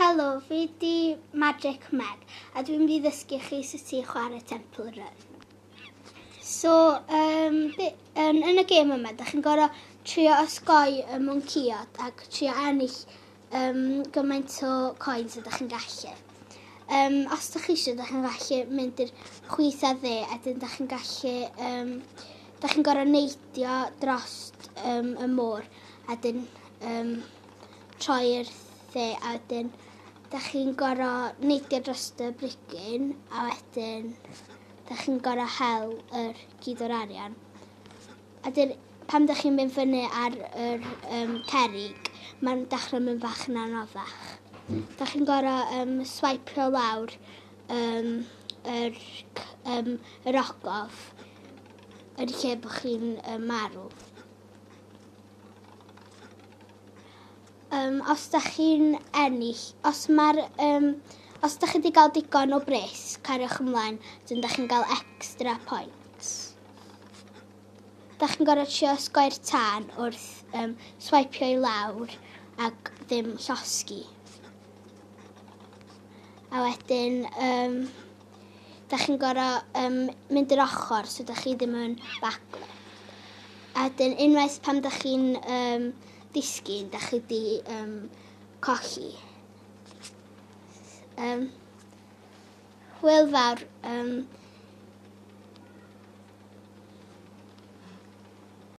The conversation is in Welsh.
Helo, fi di Magic Meg a dwi'n mynd i ddysgu chi sut i chwarae Temple Run. So, um, be, yn, yn y gêm yma, da chi'n gorau trio osgoi y mwnciod ac trio ennill um, gymaint o coins ydych chi'n gallu. Um, os ydych chi eisiau, ydych chi'n gallu mynd i'r chwith a dde, a dyn ydych chi'n gallu, um, ydych chi'n gorau neidio dros um, y môr, a dyn um, troi'r dde a wedyn da chi'n goro neidio dros y brigyn a wedyn da chi'n goro hel yr gyd o'r arian. A wedyn pan da chi'n mynd fyny ar yr um, cerig mae'n dechrau mynd bach yn anoddach. Da chi'n gorau um, swipio lawr um, yr, um, yr ogof yn lle bod chi'n um, marw. um, os da chi'n ennill, os mae'r, um, os da chi wedi cael digon o bres, cariwch ymlaen, dyn da chi'n cael extra points. Da chi'n gorfod trio sgoi'r tân wrth um, swipio i lawr ac ddim llosgi. A wedyn, um, da chi'n gorau um, mynd yr ochr, so da chi ddim yn baglo. A dyn unwaith pam da chi'n um, disgyn, da chi di um, cochi. Um, Hwyl fawr. Um,